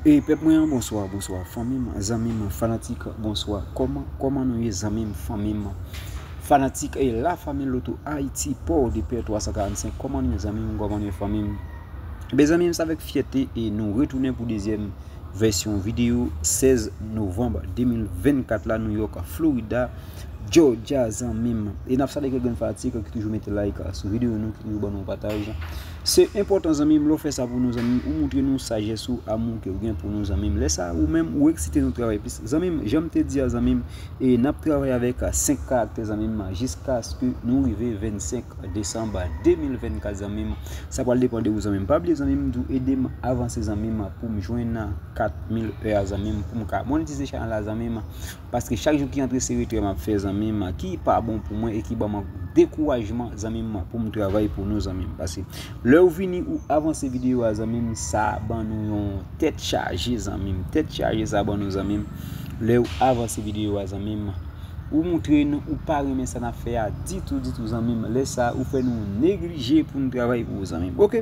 Hey pèp mwen an bonswa bonswa fanmim zanmim fanatik bonswa kòman kòman nou ye zanmim fanmim fanatik e la fanmi loto ayiti paw depè 345 kòman nou ye zanmim kòman nou ye fanmim ebyen zanmim se avèk fyète e nou retounen pou dezyèm vèsyon videyo 16 novanm 2024 la nou yòk florida jòjya zanmim e nap salye kèk grenn fanatik ki toujou mete like sou videyo nou ki toujou ban nou pataj. Se enpòtan zanmim lèw fè sa pou nou zanmim ou moutre nou sajès ou amou kew gen pou nou zanmim lè sa ou menm ou eksite nou travay plis zanmim janm te dia zanmim e nap travay avèk 5 karaktè zanmim jiskaske nou rive 25 desanm 2024 zanmim sa pral depan de ou zanmim pa bliye zanmim tou edem avanse zanmim poum jwenn 4000 ea zanmim poum ka monetize chanèl la zanmim. Paske chak jou ki antre se retrè map fè zanmi m ki pa bon pou mwen e ki banm dekourajman zanmi m pou m travay pou nou zanmi m paske lè ou vini ou avanse videyo a zanmi m sa ban nou yon tèt chaje zanmi m tèt chaje sa ban nou zanmi m lè ou avanse videyo a zanmi m ou moutre nou ou pa renmen sa nap fè a ditou ditou zanmi m lè sa ou fè nou neglije pou nou travay pou ou zanmi m ok.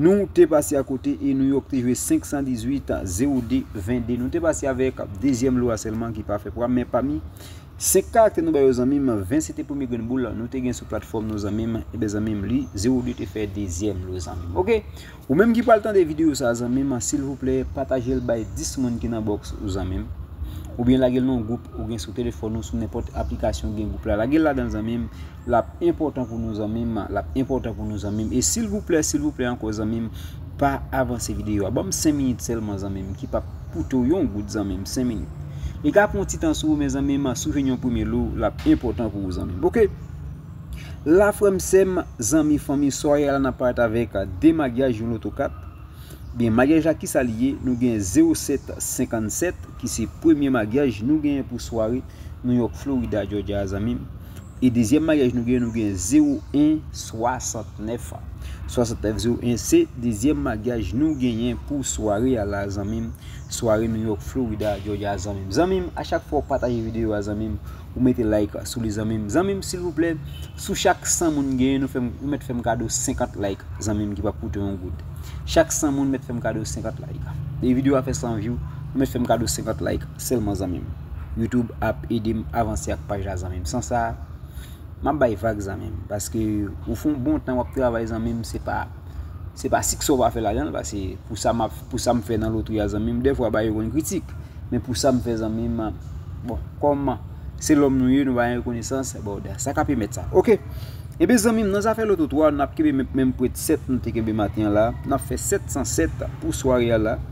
Nou te pase a kote e New York te jwe 518 a 0 de 22. Nou te pase avèk dezyèm lo a sèlman ki pa fè pwa. Men pami 5 karaktè nou ba yo zanmim, 20 se te premye grenn boul nou te gen sou platfòm nou zanmim. E ben zanmim li 0 de te fè dezyèm lo zanmim. Ok, ou menm ki pral tande videyo sa zanmim, silvouplè patajel bay 10 moun ki nan box ou zanmim. Ou byen lagel nan gwoup ou gen sou telefòn ou sou nenpòt aplikasyon gen gwoup la. Lagel ladan zanmim. Lap enpòtan pou nou zanmim. Lap enpòtan pou nou zanmim. E silvouplè silvouplè ankò zanmim pa avanse videyo a. Banm 5 minit sèlman zanmim ki pap koute w yon goud zanmim 5 minit. Li ka pran yon ti tan sou ou men zanmim si w jwenn yon premye lou lap enpòtan pou ou zanmim ok. La frèm sèm zanmi fanmi swaye a la nap parèt avèk 2 magyaj yon loto 4. Ebyen magyaj la kisa li ye nou gen 0 7 57 ki se premye magyaj nou genyen pou sware New York Florida Georgia a zanmim. E dezyèm maryaj nou gen, nou gen 0 1 69 an. 69 0 1 se dezyèm magyaj nou genyen pou sware a la zanmim. Sware New York Florida Georgia zanmim. Zanmim a chak fwa ou pataje videyo a zanmim, ou mete like sou li zanmim. Zanmim silvouplè, sou chak 100 moun genyen nou fèm ou mèt fèm kado 50 like zanmim ki pap koute yon goud. Chak 100 moun mèt fèm kado 50 like. E videyo a fè 100 view, ou mèt fèm kado 50 like. Selman zanmim. Youtube ap edem avanse ak paj la zanmim san sa map bay vag zanmim paske ou fon bon tan wap travay zanmim se pa se pa siksè ou pa fè lajanl pase pou sa map pou sam fè nan lotri a zanmim defwa bagay yo konn kritik men pou sam fè zanmim bon kòm se lòm nou ye nou pa gen rekonesans bon da sa kap pèmèt sa ok ebyen zanmim nan zafè loto 3 nap kenbe menm prèt 7 nou te kenbe maten an la nap fè 707 pou sware a la.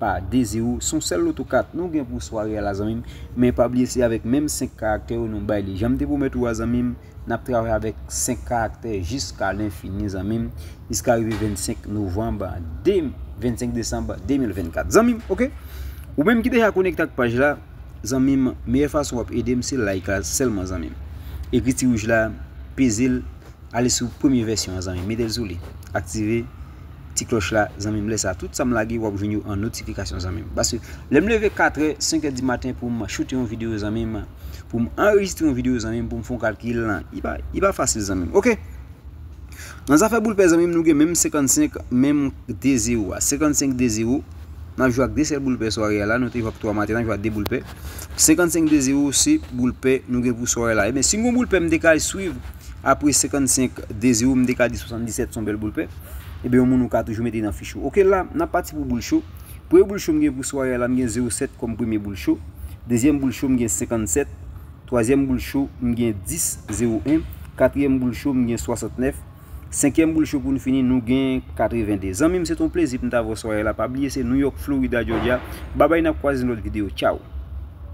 pa dezi ou son sèl loto kat nou gen pou sware a la zanmim men pa bliye se avèk menm 5 karaktè yo nou bay li janm te pwomèt ou a zanmim nap travay avèk 5 karaktè jiska lenfini zanmim jiska rive 25 novanb 25 desanm 2024 zanmim ok ou menm ki deja konekte ak paj la zanmim meyè fason wap edem se like la sèlman zanmim ekri ti wouj la peze l Ale sou premye vèsyon an zanmim metel sou li aktive ti klòch la zanmim lèsa tout sam lage wap jwenn yo an notifikasyon zanmim paske lèm leve 4 è 5 è di maten poum choute yon video zanmim poum anrejistre yon video zanmim poum fon kalkil li pa fasil zanmim ok nan zafè boul pè zanmim nou gen menm 55 menm 2 zero a 55 2 zero nap jwe ak 2 sèl boul pè sware a la nou te jwe ak 3 maten nap jwe ak 2 boul pè. 55 de 0 se boul pè nou gen pou sware la. Eben, si m gon boul pè m te ka swiv apre 55 de 0 m te ka di 77 son bèl boul pè. Eben, yon moun ou ka toujou mete nan fich ou. Ok la, n ap pati pou boul cho. Premye boul cho m gen pou sware la m gen 07 kòm premye boul cho. Dezyèm boul cho m gen 57. Twazyèm boul cho m gen 10 01. Katriyèm boul cho m gen 69. Senkyèm boul cho pou n fini nou gen 82 Zanmi m se t on plezi pou m t avè w swayè la pa bliye se New York Florida Georgia Babay n ap kwaze nan lòt videyo Tchaww.